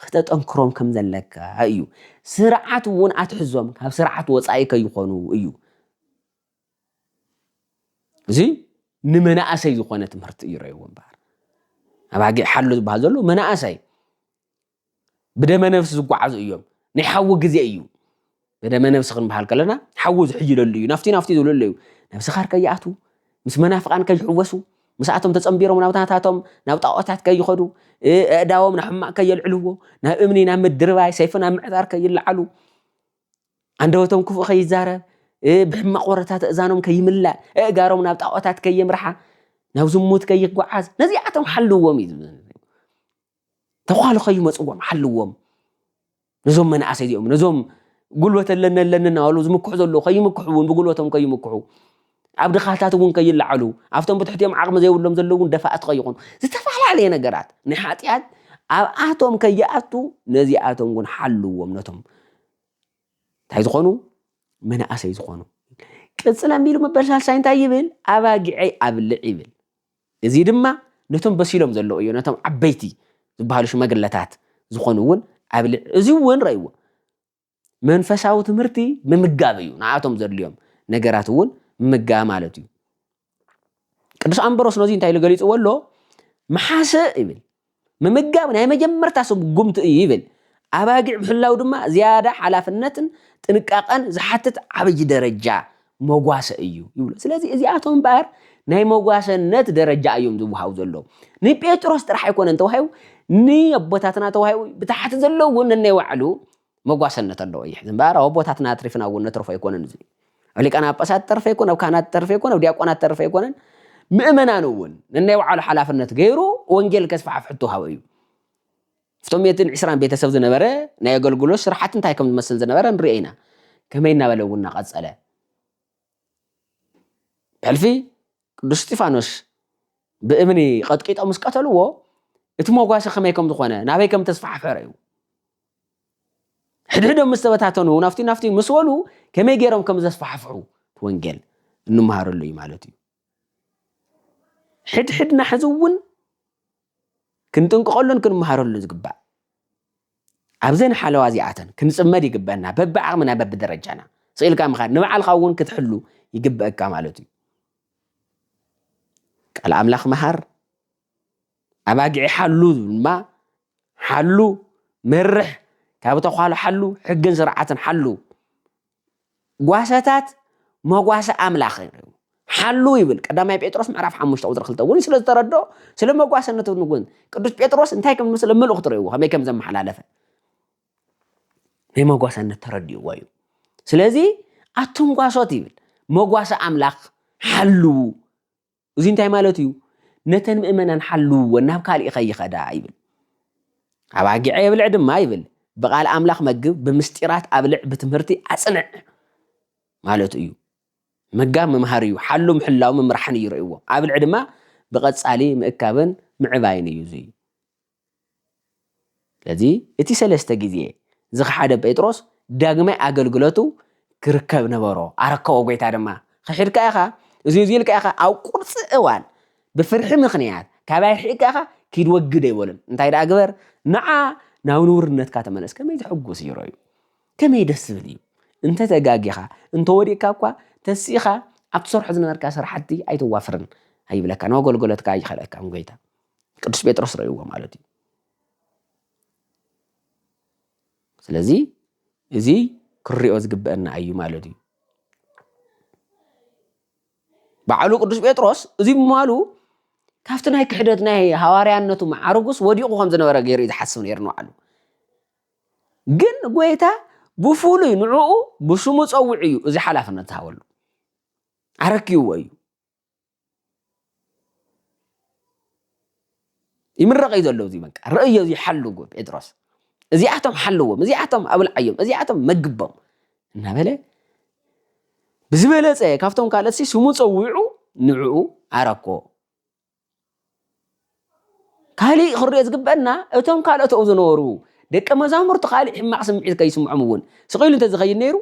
ክተጠንክሮም ከም ዘለካ እዩ ስርዓት እውን ኣትሕዞም ካብ ስርዓት ወጻኢ ከይኾኑ እዩ እዚ ንመናእሰይ ዝኾነ ትምህርቲ እዩ ረይዎ እምበኣር ኣባጊዕ ሓሉ ዝበሃል ዘሎ መናእሰይ ብደመ ነፍሲ ዝጓዓዙ እዮም ናይ ሓዊ ግዜ እዩ ብደመ ነፍሲ ክንበሃል ከለና ሓዊ ዝሕይለሉ እዩ ናፍቲ ናፍቲ ዝብለሉ እዩ ናብ ስኻር ከይኣትዉ ምስ መናፍቓን ከይሕወሱ ምስኣቶም ተጸንቢሮም ናብ ናታቶም ናብ ጣዖታት ከይኸዱ ኣእዳዎም ናብ ሕማቕ ከየልዕልዎ ናብ እምኒ ናብ ምድርባይ ሰይፊ ናብ ምዕጣር ከይለዓሉ ኣንደበቶም ክፉእ ከይዛረብ ብሕማቕ ወረታት እዛኖም ከይምላእ እእጋሮም ናብ ጣዖታት ከየምርሓ ናብ ዝሙት ከይጓዓዝ ነዚኣቶም ሓልዎም እዩ ተኳሉ ከይመፅዎም ሓልዎም ነዞም መናእሰይ እዚኦም ነዞም ጉልበት ኣለኒ ኣለኒ እናበሉ ዝምክሑ ዘለዉ ከይምክሑ እውን ብጉልበቶም ከይምክሑ ኣብ ድኻታት እውን ከይለዓሉ ኣብቶም ብትሕቲኦም ዓቕሚ ዘይብሎም ዘለዉ እውን ደፋእቲ ከይኾኑ ዝተፈላለየ ነገራት ንሓጢኣት ኣብኣቶም ከይኣቱ ነዚኣቶም እውን ሓልዎም ነቶም እንታይ ዝኾኑ መናእሰይ ዝኾኑ ቅፅል ኣንቢሉ መበል ሳልሳይ እንታይ ይብል ኣባጊዐይ ኣብልዕ ይብል እዚ ድማ ነቶም በሲሎም ዘለዉ እዩ ነቶም ዓበይቲ ዝበሃሉ ሽማግለታት ዝኾኑ እውን ኣብልዕ እዚ እውን ረእይዎ መንፈሳዊ ትምህርቲ ምምጋብ እዩ ንኣቶም ዘድልዮም ነገራት እውን ምምጋብ ማለት እዩ ቅዱስ ኣምበሮስ ነዚ እንታይ ኢሉ ገሊጽዎ ኣሎ መሓሰ ይብል ምምጋብ ናይ መጀመርታ ስጉምቲ እዩ ይብል ኣባጊዕ ምሕላው ድማ ዝያዳ ሓላፍነትን ጥንቃቐን ዝሓትት ዓብይ ደረጃ መጓሰ እዩ ይብሉ ስለዚ እዚኣቶም እምበኣር ናይ መጓሰነት ደረጃ እዮም ዝወሃቡ ዘለዉ ንጴጥሮስ ጥራሕ ኣይኮነን ተዋሂቡ ንኣቦታትና ተዋሂቡ ብታሕቲ ዘለዉ እውን ነናይ ባዕሉ መጓሰነት ኣለዎ ይሕዝ እምበኣር ኣብ ኣቦታትና ኣትሪፍና እውን ነትርፎ ኣይኮነን እዚ ኣብ ሊቃነ ጳጳሳት ተርፈ ኣይኮነ ኣብ ካህናት ተርፈ ኣይኮነ ኣብ ዲያቆናት ተርፈ ኣይኮነን ምእመናን እውን ነናይ ባዕሉ ሓላፍነት ገይሩ ወንጌል ከስፋሕፍ ሕቶ ሃበ እዩ እቶም ሜትን ዕስራን ቤተሰብ ዝነበረ ናይ ኣገልግሎት ስራሕቲ እንታይ ከም ዝመስል ዝነበረ ንሪኦ ኢና ከመይ እናበለ እውን እናቐፀለ ሕልፊ ቅዱስ እስጢፋኖስ ብእምኒ ቐጥቂጦም ምስ ቀተልዎ እቲ መጓሰ ከመይ ከም ዝኾነ ናበይ ከም ተስፋሕፍሐ እዩ ሕድሕዶም ምስ ተበታተኑ ናፍቲ ናፍቲ ምስ በሉ ከመይ ገይሮም ከም ዘስፋሕፍሑ ወንጌል እንመሃረሉ እዩ ማለት እዩ ሕድሕድና ሕዚ እውን ክንጥንቅቐሉን ክንመሃረሉን ዝግባእ ኣብዘን ሓለዋ እዚኣተን ክንፅመድ ይግበአና በብዓቕምና በብደረጃና ስኢልካ ምኻድ ንባዕልካ እውን ክትሕሉ ይግበአካ ማለት እዩ ቃል ኣምላኽ መሃር ኣባጊዒ ሓሉ ድማ ሓሉ መርሕ ካብ ተኳሉ ሓሉ ሕግን ስርዓትን ሓሉ ጓሰታት መጓሰ ኣምላኽ እዮም። ሓሉ ይብል ቀዳማይ ጴጥሮስ ምዕራፍ ሓሙሽተ ቁፅሪ ክልተ እውን ስለ ዝተረድኦ ስለ መጓሰነቱ ንጉን ቅዱስ ጴጥሮስ እንታይ ከም ዝመስለ መልእኽቱ ርእይዎ ከመይ ከም ዘመሓላለፈ ናይ መጓሰነት ተረድእዎ እዩ ስለዚ ኣቱም ጓሶት ይብል መጓሰ ኣምላኽ ሓልዉ እዙይ እንታይ ማለቱ እዩ? ነተን ምእመናን ሓልውወን ናብ ካልእ ከይኸዳ ይብል። ኣባጊዐ የብልዕ ድማ ይብል። ብቓል ኣምላኽ መግብ፣ ብምስጢራት ኣብልዕ፣ ብትምህርቲ ኣጽንዕ ማለቱ እዩ። ምጋብ ምምሃር እዩ፣ ሓሉ ምሕላው ምምራሕን እዩ ርእይዎ። ኣብልዕ ድማ ብቐጻሊ ምእካብን ምዕባይን እዩ። እዙይ ስለዚ እቲ ሰለስተ ግዜ ዝኸሓደ ጴጥሮስ ዳግማይ ኣገልግሎቱ ክርከብ ነበሮ። ኣረከቦ ጎይታ ድማ ክሒድካ ኢኻ እዚ እዚ ኢልካ ኢኻ ኣብ ቁርፂ እዋን ብፍርሒ ምኽንያት ካባይ ርሒቕካ ኢኻ ኪድ ወግድ ኣይበሉን እንታይ ደኣ ግበር ንዓ ናብ ንውርነትካ ተመለስ ከመይ ዘሕጉስ እዩ ሮዩ ከመይ ደስ ዝብል እዩ እንተ ተጋጊኻ እንተ ወዲቕካ እኳ ተሲእኻ ኣብ ትሰርሖ ዝነበርካ ስራሕቲ ኣይትዋፍርን ኣይብለካ ናብ ኣገልግሎትካ ኣይኸለካን ጎይታ ቅዱስ ጴጥሮስ ረእይዎ ማለት እዩ ስለዚ እዚ ክንሪኦ ዝግበአና እዩ ማለት እዩ በዓሉ ቅዱስ ጴጥሮስ እዚ ምማሉ ካብቲ ናይ ክሕደት ናይ ሃዋርያነቱ መዓርጉስ ወዲቑ ከም ዝነበረ ገይሩ እዩ ዝሓስብ ነይሩ ንባዕሉ ግን ጎይታ ብፍሉይ ንዕኡ ብሽሙ ፀውዕ እዩ እዚ ሓላፍነት ዝሃበሉ ኣረክይዎ እዩ ይምረቕ እዩ ዘሎ እዚ በቃ ርእዮ እዚ ሓሉ ጴጥሮስ እዚኣቶም ሓልዎም እዚኣቶም ኣብልዓዮም እዚኣቶም መግቦም እናበለ ብዝበለፀ ካብቶም ካልኦት ስሙ ፀዊዑ ንዕኡ ዓረኮ ካልእ ክርኦ ዝግበአና እቶም ካልኦት ኣብኡ ዝነበሩ ደቀ መዛሙርቲ ካልእ ሕማቕ ስምዒት ከይስምዖም እውን ስቕ ኢሉ እንተዝኸይድ ነይሩ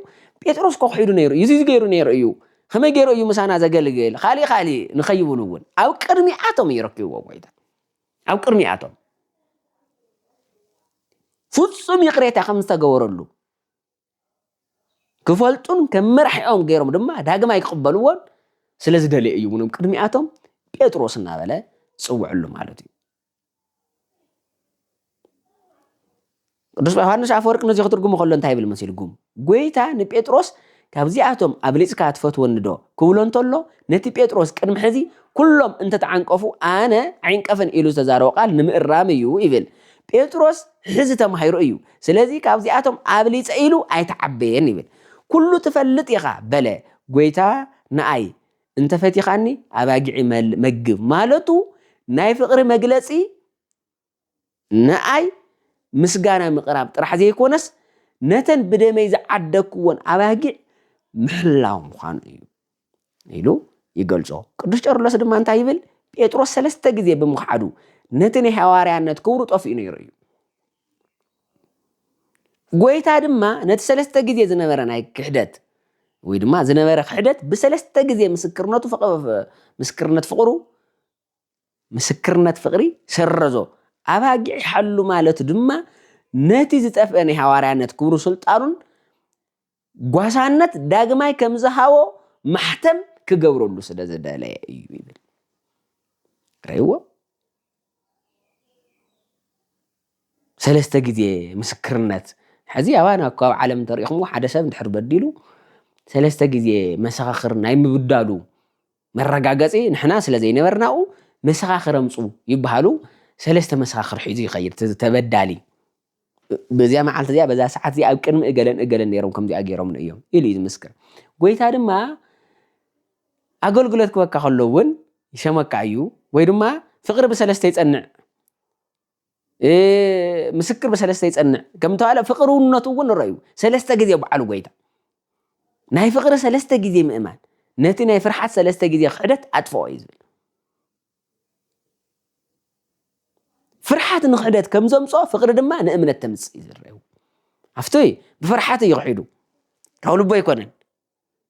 ጴጥሮስ እኮ ክሒዱ ነይሩ እዩ እዚ ገይሩ ነይሩ እዩ ከመይ ገይሩ እዩ ምሳና ዘገልግል ካልእ ካልእ ንኸይብሉ እውን ኣብ ቅድሚኣቶም እዩ ረኪብዎ ጎይታ ኣብ ቅድሚኣቶም ፍጹም ይቕሬታ ከም ዝተገበረሉ ክፈልጡን ከም መራሒኦም ገይሮም ድማ ዳግማይ ክቕበልዎን ስለ ዝደለየ እዩ ምንም ቅድሚኣቶም ጴጥሮስ እናበለ ዝፅውዕሉ ማለት እዩ ቅዱስ ዮሃንስ ኣፈወርቅ ነዚ ክትርጉሙ ከሎ እንታይ ይብል መሲልኩም ጎይታ ንጴጥሮስ ካብዚኣቶም ኣብሊፅካ ትፈትወኒ ዶ ክብሎ እንተሎ ነቲ ጴጥሮስ ቅድሚ ሕዚ ኩሎም እንተተዓንቀፉ ኣነ ዓይንቀፍን ኢሉ ዝተዛረቦ ቃል ንምእራም እዩ ይብል ጴጥሮስ ሕዚ ተማሂሩ እዩ ስለዚ ካብዚኣቶም ኣብሊጸ ኢሉ ኣይተዓበየን ይብል። ኩሉ ትፈልጥ ኢኻ በለ ጎይታ ንኣይ እንተ ፈቲኻኒ ኣባጊዒ መግብ ማለቱ ናይ ፍቕሪ መግለጺ ንኣይ ምስጋና ምቕራብ ጥራሕ ዘይኮነስ ነተን ብደመይ ዝዓደግክዎን ኣባጊዕ ምሕላው ምዃኑ እዩ። ኢሉ ይገልጾ። ቅዱስ ቄርሎስ ድማ እንታይ ይብል? ጴጥሮስ ሰለስተ ግዜ ብምኽዓዱ ነቲ ናይ ሃዋርያነት ክብሩ ጠፊኡ ነይሩ እዩ። ጎይታ ድማ ነቲ ሰለስተ ግዜ ዝነበረ ናይ ክሕደት ወይ ድማ ዝነበረ ክሕደት ብሰለስተ ግዜ ምስክርነቱ ምስክርነት ፍቕሩ ምስክርነት ፍቕሪ ሰረዞ ኣባጊዕሓሉ ማለቱ ድማ ነቲ ዝጠፍአ ናይ ሃዋርያነት ክብሩ ስልጣኑን ጓሳነት ዳግማይ ከም ዝሃቦ ማሕተም ክገብረሉ ስለ ዝደለየ እዩ ይብል። ርእይዎ ሰለስተ ግዜ ምስክርነት ሕዚ ኣባና እኮ ኣብ ዓለም እንተሪኢኹምዎ ሓደ ሰብ እንድሕር በዲሉ ሰለስተ ግዜ መሰኻኽር ናይ ምብዳሉ መረጋገፂ ንሕና ስለ ዘይነበርናኡ መሰኻኽር ኣምፁ ይበሃሉ ሰለስተ መሰኻኽር ሒዙ ይኸይድ ተበዳሊ በዚኣ መዓልቲ እዚኣ በዛ ሰዓት እዚኣ ኣብ ቅድሚ እገለን እገለን ነይሮም ከምዚኣ ገይሮምኒ እዮም ኢሉ እዩ ዝምስክር ጎይታ ድማ ኣገልግሎት ክበካ ከሎ እውን ይሸመካ እዩ ወይ ድማ ፍቅሪ ብሰለስተ ይጸንዕ ምስክር ብሰለስተ ይጸንዕ ከም ተባለ ፍቅርውነቱ እውን ንረዩ ሰለስተ ግዜ በዓሉ ጎይታ ናይ ፍቅሪ ሰለስተ ግዜ ምእማን ነቲ ናይ ፍርሓት ሰለስተ ግዜ ክሕደት ኣጥፍኦ እዩ ዝብል ፍርሓት ንክሕደት ከም ዘምጽኦ ፍቅሪ ድማ ንእምነት ተምጽእ እዩ ዝረአዩ ኣብቲ ብፍርሓት እዩ ክሒዱ ካብ ልቦ ኣይኮነን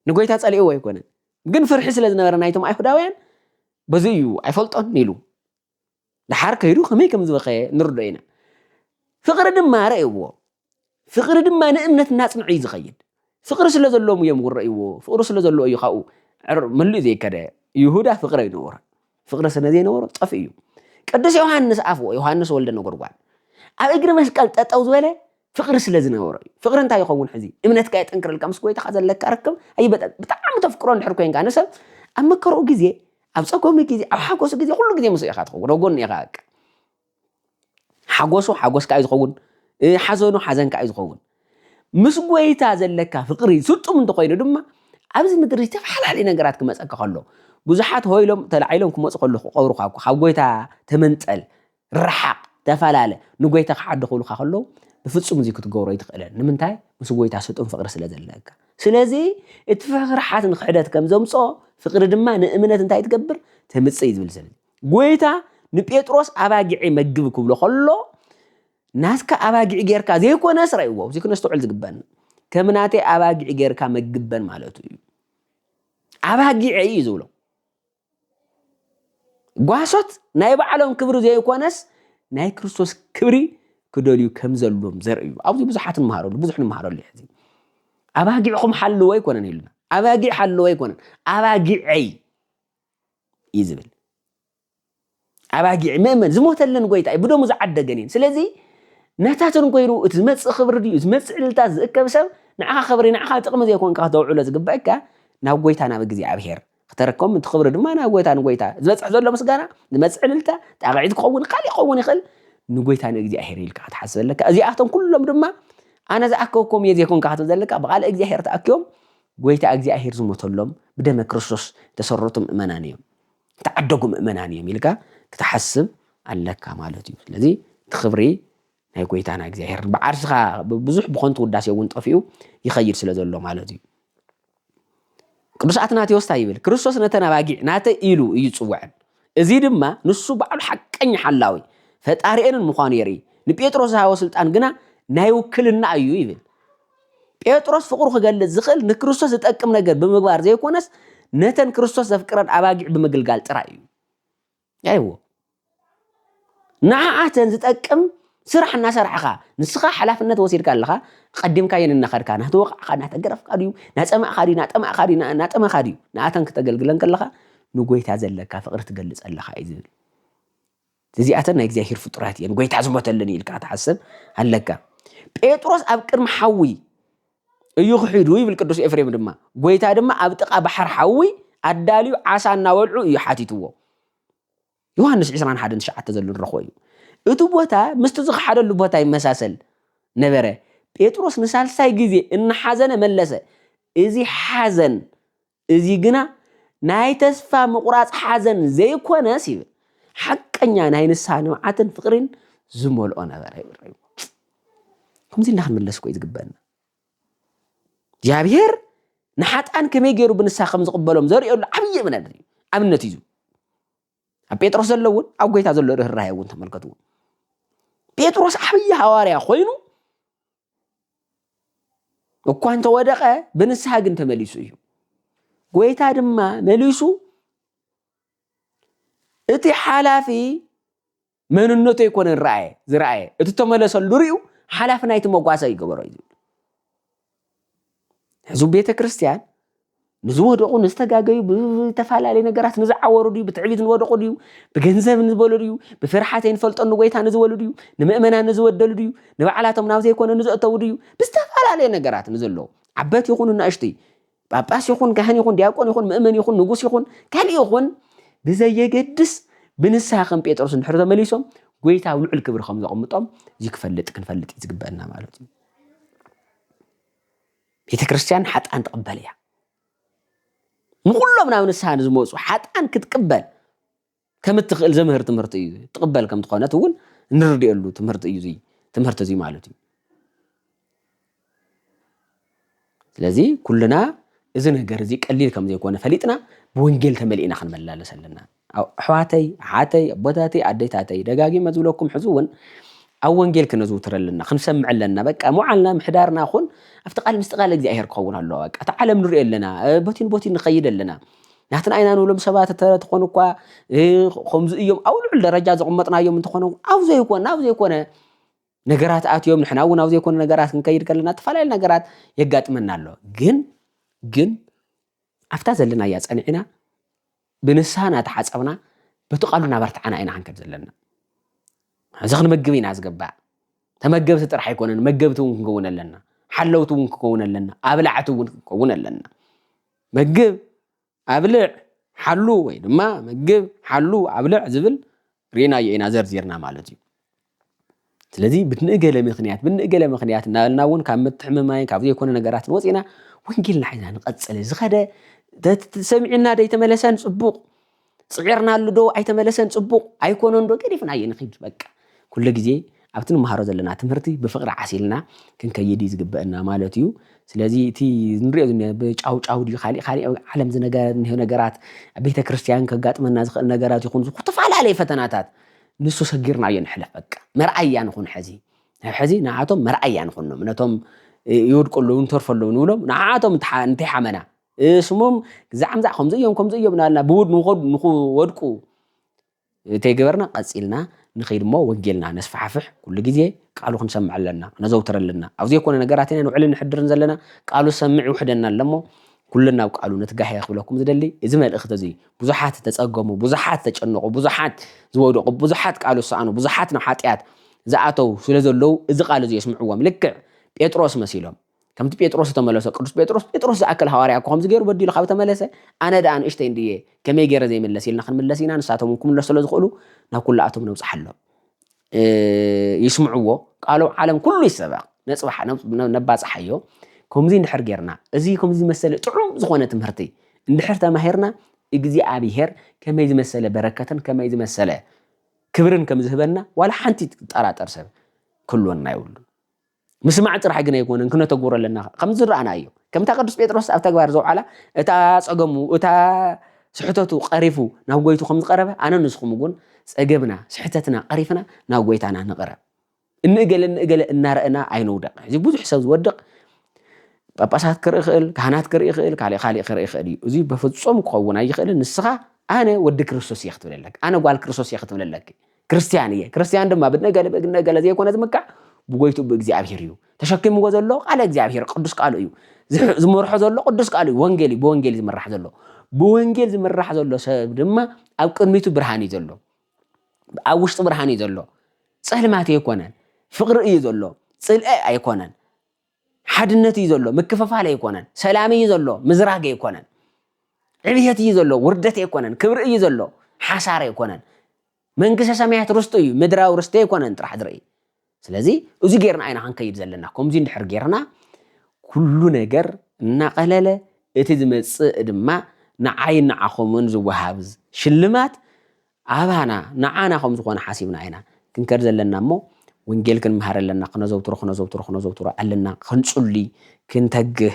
ንጎይታ ጸሊእዎ ኣይኮነን ግን ፍርሒ ስለ ዝነበረ ናይቶም ኣይሁዳውያን በዚ እዩ ኣይፈልጦን ኢሉ ድሓር ከይዱ ከመይ ከም ዝበኸየ ንርዶ ኢና ፍቅሪ ድማ ረእይዎ ፍቕሪ ድማ ንእምነት እናጽንዐ እዩ ዝኸይድ ፍቕሪ ስለ ዘለዎም እዮም ውረእይዎ ፍቕሪ ስለ ዘለዎ እዩ ካብኡ መሊኡ ዘይከደ ይሁዳ ፍቕሪ ኣይነበሮ ፍቕሪ ስለ ዘይነበሮ ጠፍ እዩ ቅዱስ ዮሃንስ ኣፍዎ ዮሃንስ ወልደ ነጎድጓድ ኣብ እግሪ መስቀል ጠጠው ዝበለ ፍቕሪ ስለ ዝነበሮ እዩ ፍቕሪ እንታይ ይኸውን ሕዚ እምነትካ የጠንክረልካ ምስ ጎይታኻ ዘለካ ርክብ ኣይበጠ ብጣዕሚ ተፍቅሮ እንድሕር ኮንካ ንሰብ ኣብ መከርኡ ግዜ ኣብ ፀገሙ ግዜ ኣብ ሓጎሱ ግዜ ኩሉ ግዜ ምስ ኢኻ ትኸውን ኣብ ጎኑ ኢኻ በቃ ሓጎሱ ሓጎስ ከኣ እዩ ዝኸውን ሓዘኑ ሓዘን ከኣ እዩ ዝኸውን ምስ ጎይታ ዘለካ ፍቅሪ ስጡም እንተኾይኑ ድማ ኣብዚ ምድሪ ዝተፈላለዩ ነገራት ክመፀካ ከሎ ብዙሓት ሆይ ኢሎም ተላዒሎም ክመፁ ከሎ ክቐብሩካ እኮ ካብ ጎይታ ተመንጠል ረሓቕ ተፈላለ ንጎይታ ክሓዱ ክብሉካ ከለዉ ብፍፁም እዚ ክትገብሮ ኣይትኽእለን ንምንታይ ምስ ጎይታ ስጡም ፍቅሪ ስለ ዘለካ ስለዚ እቲ ፍርሓት ንክሕደት ከም ዘምፅኦ ፍቅሪ ድማ ንእምነት እንታይ ትገብር ተምፅእ እዩ ዝብል ስለዚ ጎይታ ንጴጥሮስ ኣባጊዔ መግብ ክብሎ ከሎ ናትካ ኣባጊዕ ጌርካ ዘይኮነስ ረእዎ እዚ ክነስተውዕል ዝግበን ከም ናተይ ኣባጊዕ ጌርካ መግበን ማለቱ እዩ ኣባጊዐ እዩ ዝብሎ ጓሶት ናይ ባዕሎም ክብሪ ዘይኮነስ ናይ ክርስቶስ ክብሪ ክደልዩ ከም ዘሎም ዘርኢ እዩ ኣብዚ ብዙሓት ንመሃረሉ ብዙሕ ንመሃረሉ ሕዚ ኣባጊዕኹም ሓልዎ ኣይኮነን ኢሉና ኣባጊዕ ሓልዎ ኣይኮነን ኣባጊዐይ እዩ ዝብል ኣባጊዕ መእመን ዝሞተለን ጎይታ እዩ ብደሙ ዝዓደገን እየን ስለዚ ናታትን ኮይሩ እቲ ዝመፅእ ክብሪ ድዩ ዝመፅእ ዕልልታት ዝእከብ ሰብ ንዓኻ ክብሪ ንዓኻ ጥቕሚ ዘይኮንካ ክተውዕሎ ዝግበአካ ናብ ጎይታ ናብ እግዚኣብሔር ክተረከቦም እቲ ክብሪ ድማ ናብ ጎይታ ንጎይታ ዝበፅሕ ዘሎ ምስጋና ዝመፅእ ዕልልታ ጣቕዒት ክኸውን ካልእ ክኸውን ይኽእል ንጎይታ ንእግዚኣብሔር ኢልካ ክትሓስብ ኣለካ እዚኣቶም ኩሎም ድማ ኣነ ዝኣከብኩም እየ ዘይኮንካ ክትብ ዘለካ ብቃል እግዚኣብሔር ተኣኪቦም ጐይታ እግዚኣብሄር ዝሞተሎም ብደመ ክርስቶስ ዝተሰረቱ ምእመናን እዮም፣ ዝተዓደጉ ምእመናን እዮም ኢልካ ክትሓስብ ኣለካ ማለት እዩ። ስለዚ እቲ ክብሪ ናይ ጐይታና እግዚኣብሄር ብዓርስኻ ብዙሕ ብኾንቱ ውዳሴ እውን ጠፊኡ ይኸይድ ስለ ዘሎ ማለት እዩ። ቅዱስ ኣትናቴዎስ እንታይ ይብል? ክርስቶስ ነተን ኣባጊዕ ናተይ ኢሉ እዩ ዝጽውዐን። እዚ ድማ ንሱ ባዕሉ ሓቀኛ ሓላዊ ፈጣሪኤንን ምዃኑ የርኢ። ንጴጥሮስ ዝሃቦ ስልጣን ግና ናይ ውክልና እዩ ይብል። ጴጥሮስ ፍቕሩ ኺገልጽ ዚኽእል ንክርስቶስ ዚጠቅም ነገር ብምግባር ዘይኰነስ፣ ነተን ክርስቶስ ዘፍቅረን ኣባጊዕ ብምግልጋል ጥራይ እዩ። ያይዎ ንዓኣተን ዚጠቅም ስራሕ እናሰርሕኻ ንስኻ ሓላፍነት ወሲድካ ኣለኻ ቀዲምካየን እናኸድካ ናተወቃዕካ ናተገረፍካ ድዩ ናፀማእካ ድዩ ናጠማእካ ድዩ ናጠመኻ ድዩ ንኣተን ክተገልግለን ከለኻ ንጎይታ ዘለካ ፍቕሪ ትገልፅ ኣለኻ እዩ ዝብል እዚኣተን ናይ እግዚኣብሄር ፍጡራት እየን፣ ጐይታ ዝሞተለን እዩ ኢልካ ትሓስብ ኣለካ። ጴጥሮስ ኣብ ቅድሚ ሓዊ እዩ ክሒዱ ይብል ቅዱስ ኤፍሬም ድማ ጎይታ ድማ ኣብ ጥቃ ባሕር ሓዊ ኣዳልዩ ዓሳ እናበልዑ እዩ ሓቲትዎ ዮሃንስ 21 ሸዓተ ዘሎ ንረኽቦ እዩ እቲ ቦታ ምስቲ ዝኸሓደሉ ቦታ ይመሳሰል ነበረ ጴጥሮስ ንሳልሳይ ግዜ እናሓዘነ መለሰ እዚ ሓዘን እዚ ግና ናይ ተስፋ ምቑራጽ ሓዘን ዘይኰነስ ይብል ሓቀኛ ናይ ንስሓ ንብዓትን ፍቕሪን ዝመልኦ ነበረ ይብል። ከምዚ ኢልና ክንምለስ እኮ እዩ ዝግበአና። እግዚኣብሔር ንሓጣን ከመይ ገይሩ ብንሳ ከም ዝቕበሎም ዘርእየሉ ዓብዪ እምነት እዩ ኣብነት እዩ ኣብ ጴጥሮስ ዘሎ እውን ኣብ ጎይታ ዘሎ ርኅራኄ እውን ተመልከትዎ ጴጥሮስ ዓብዪ ሃዋርያ ኮይኑ እኳ እንተወደቐ ብንስሓ ግን ተመሊሱ እዩ ጎይታ ድማ መሊሱ እቲ ሓላፊ መንነቱ ኣይኮነ ረኣየ ዝረኣየ እቲ ተመለሰሉ ርዩ ሓላፊ ናይቲ መጓሰ ይገበሮ እዩ ዝብል ሕዚ ቤተ ክርስቲያን ንዝወደቑ ንዝተጋገዩ ብዝተፈላለዩ ነገራት ንዝዓወሩ ድዩ ብትዕቢት ንወደቑ ድዩ ብገንዘብ ንዝበሉ ድዩ ብፍርሓት ንፈልጦ ንጎይታ ንዝበሉ ድዩ ንምእመና ንዝበደሉ ድዩ ንባዕላቶም ናብ ዘይኮነ ንዘእተው ድዩ ብዝተፈላለየ ነገራት ንዘለዉ ዓበት ይኹኑ እናእሽቱይ ጳጳስ ይኹን ካህን ይኹን ዲያቆን ይኹን ምእመን ይኹን ንጉስ ይኹን ካልእ ይኹን ብዘየገድስ ብንስሓ ከም ጴጥሮስ እንድሕር ተመሊሶም ጎይታ ኣብ ልዑል ክብሪ ከም ዘቕምጦም እዚ ክፈልጥ ክንፈልጥ እዩ ዝግበአና ማለት እዩ ቤተ ክርስቲያን ሓጣን ትቕበል እያ ንኹሎም ናብ ንስሓ ንዝመፁ ሓጣን ክትቅበል ከም እትኽእል ዘምህር ትምህርቲ እዩ ትቕበል ከም ዝኾነት እውን እንርድየሉ ትምህርቲ እዩ እዙይ ትምህርቲ እዙይ ማለት እዩ ስለዚ ኩልና እዚ ነገር እዚ ቀሊል ከም ዘይኮነ ፈሊጥና ብወንጌል ተመሊእና ክንመላለስ ኣለና ኣሕዋተይ ኣሓተይ ኣቦታተይ ኣዴታተይ ደጋጊመ ዝብለኩም ሕዚ እውን ኣብ ወንጌል ክነዝውትር ኣለና ክንሰምዕ ኣለና በቃ መዓልና ምሕዳርና ኹን ኣብቲ ቃል ምስቲ ቃል እግዚኣብሄር ክኸውን ኣለዎ በቃ እቲ ዓለም ንሪኦ ኣለና ቦቲ ንቦቲ ንኸይድ ኣለና ናትና ኢና ንብሎም ሰባት ተኾኑ እኳ ከምዚ እዮም ኣብ ልዑል ደረጃ ዘቕመጥናዮም እንተኾነ ኣብ ዘይኮነ ናብ ዘይኮነ ነገራት ኣትዮም ንሕና እውን ኣብ ዘይኮነ ነገራት ክንከይድ ከለና ዝተፈላለዩ ነገራት የጋጥመና ኣሎ ግን ግን ኣብታ ዘለናያ ፀኒዕና ብንስሃ እናተሓጸብና በቲ ቃሉ እናበርትዓና ኢና ክንከድ ዘለና። እዚ ክንመግብ ኢና ዝግባእ። ተመገብቲ ጥራሕ ኣይኮነን መገብቲ እውን ክንከውን ኣለና። ሓለውቲ እውን ክንከውን ኣለና። ኣብላዕቲ እውን ክንከውን ኣለና። መግብ ኣብልዕ ሓሉ ወይ ድማ መግብ ሓሉ ኣብልዕ ዝብል ርኢናዮ ኢና ዘርዚርና ማለት እዩ። ስለዚ ብንእገለ ምክንያት ብንእገለ ምክንያት እናበልና እውን ካብ ምትሕምማይን ካብ ዘይኮነ ነገራትን ወፂና ወንጌልና ሒዝና ንቐፅል ዝኸደ ሰሚዕና ዶ ኣይተመለሰን ፅቡቕ ፅዒርናሉ ዶ ኣይተመለሰን ፅቡቕ ኣይኮነን ዶ ገዲፍናዮ ንኽድ በቃ ኩሉ ግዜ ኣብቲ ንመሃሮ ዘለና ትምህርቲ ብፍቕሪ ዓሲልና ክንከይድ እዩ ዝግበአና ማለት እዩ ስለዚ እቲ ንሪኦ ብጫውጫው ድዩ ካሊእ ካሊእ ዓለም ዝነገር ነገራት ቤተ ክርስቲያን ከጋጥመና ዝኽእል ነገራት ይኹን ዝተፈላለየ ፈተናታት ንሱ ሰጊርናዮ ንሕለፍ በቃ መርኣያ ንኹን ሐዚ ናብ ሐዚ ንዓቶም መርኣያ ንኹኖም ነቶም ይወድቁ ኣለዉ ንተርፎ ኣለዉ ንብሎም ንዓቶም እንተይሓመና ስሞም ግዛዕምዛዕ ከምዚ እዮም ከምዚ እዮም ናልና ብውድ ንክወድቁ እንተይገበርና ቀፂልና ንኸይድ እሞ ወንጌልና ነስፋሕፍሕ ኩሉ ግዜ ቃሉ ክንሰምዕ ኣለና ክነዘውትር ኣለና ኣብ ዘይኮነ ነገራት ኢና ንውዕልን ንሕድርን ዘለና ቃሉ ሰምዕ ይውሕደና ኣለሞ ኩለን ናብ ቃሉ ንትጋሄ ክብለኩም ዝደሊ እዚ መልእኽቲ እዚ ብዙሓት ዝተጸገሙ ብዙሓት ዝተጨነቑ ብዙሓት ዝወደቑ ብዙሓት ቃሉ ዝሰኣኑ ብዙሓት ናብ ሓጢኣት ዝኣተው ስለ ዘለዉ እዚ ቃል እዚ የስምዕዎም ልክዕ ጴጥሮስ መሲሎም ከምቲ ጴጥሮስ ዝተመለሶ ቅዱስ ጴጥሮስ ጴጥሮስ ዝኣክል ሃዋርያ እኮ ከምዚ ገይሩ በዲሉ ካብ ተመለሰ ኣነ ደኣ ንእሽተይ እንድየ ከመይ ገይረ ዘይምለስ ኢልና ክንምለስ ኢና ንሳቶም እውን ክምለሱ ስለ ዝኽእሉ ናብ ኩላኣቶም ነብጽሓሎም ይስምዕዎ ቃሉ ዓለም ኩሉ ይሰበኽ ነጽባሕ ነባጽሓዮ ከምዚ እንድሕር ጌርና እዚ ከምዚ ዝመሰለ ጥዑም ዝኾነ ትምህርቲ እንድሕር ተማሂርና እግዚኣብሄር ከመይ ዝመሰለ በረከትን ከመይ ዝመሰለ ክብርን ከም ዝህበና ዋላ ሓንቲ ዝጠራጠር ሰብ ክህልወና የብሉ ምስማዕ ጥራሕ ግን ኣይኮነን ክነተግብሮ ኣለና ከምዚ ዝረኣናዮ ከምታ ቅዱስ ጴጥሮስ ኣብ ተግባር ዘውዓላ እታ ጸገሙ እታ ስሕተቱ ቀሪፉ ናብ ጎይቱ ከም ዝቐረበ ኣነ ንስኹም እውን ጸገብና ስሕተትና ቀሪፍና ናብ ጎይታና ንቕረብ እንእገለ እንእገለ እናረእና ኣይንውደቕ እዚ ብዙሕ ሰብ ዝወድቕ ጳጳሳት ክርኢ ይኽእል ካህናት ክርኢ ይኽእል ካልእ ካልእ ክርኢ ይኽእል እዩ እዚ በፍጹም ክኸውን ኣይኽእልን ንስኻ ኣነ ወዲ ክርስቶስ እየ ክትብለለክ ኣነ ጓል ክርስቶስ እየ ክትብለለክ ክርስትያን እየ ክርስትያን ድማ ብነገለ ብነገለ ዘይኮነ ዝምካዕ ብጎይቱ ብእግዚኣብሔር እዩ ተሸኪምዎ ዘሎ ቃለ እግዚኣብሔር ቅዱስ ቃሉ እዩ ዝመርሖ ዘሎ ቅዱስ ቃሉ እዩ ወንጌል እዩ ብወንጌል ዝምራሕ ዘሎ ብወንጌል ዝምራሕ ዘሎ ሰብ ድማ ኣብ ቅድሚቱ ብርሃን እዩ ዘሎ ኣብ ውሽጡ ብርሃን እዩ ዘሎ ፀልማት ኣይኮነን ፍቅሪ እዩ ዘሎ ፅልአ ኣይኮነን ሓድነት እዩ ዘሎ ምክፍፋል ኣይኮነን ሰላም እዩ ዘሎ ምዝራግ ኣይኮነን ዕብየት እዩ ዘሎ ውርደት ኣይኮነን ክብሪ እዩ ዘሎ ሓሳር ኣይኮነን መንግስተ ሰማያት ርስቱ እዩ ምድራዊ ርስቲ ኣይኮነን ጥራሕ ዝርኢ ስለዚ እዚ ጌርና ኢና ክንከይድ ዘለና ከምዚ እንድሕር ጌርና ኩሉ ነገር እናቐለለ እቲ ዝመጽእ ድማ ንዓይን ንዓኹምን ዝወሃብ ሽልማት ኣባና ንዓና ከም ዝኾነ ሓሲብና ኢና ክንከድ ዘለና እሞ ወንጌል ክንምሃር ኣለና ክነዘውትሮ ክነዘውትሮ ክነዘውትሮ ኣለና ክንጹሊ ክንተግህ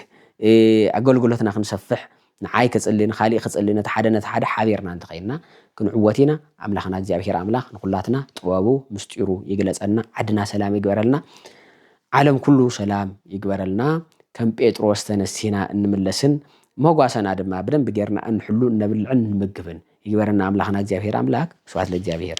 ኣገልግሎትና ክንሰፍሕ ንዓይ ክጽሊ ንኻሊእ ክጽሊ ነቲ ሓደ ነቲ ሓደ ሓቢርና እንተኸይንና ክንዕወት ኢና ኣምላኽና እግዚኣብሄር ኣምላኽ ንኹላትና ጥበቡ ምስጢሩ ይግለጸና ዓድና ሰላም ይግበረልና ዓለም ኩሉ ሰላም ይግበረልና ከም ጴጥሮስ ተነሲና እንምለስን መጓሰና ድማ ብደንቢ ጌርና እንሕሉ እነብልዕን እንምግብን ይግበረና ኣምላኽና እግዚኣብሔር ኣምላክ ስብሐት ለእግዚኣብሔር።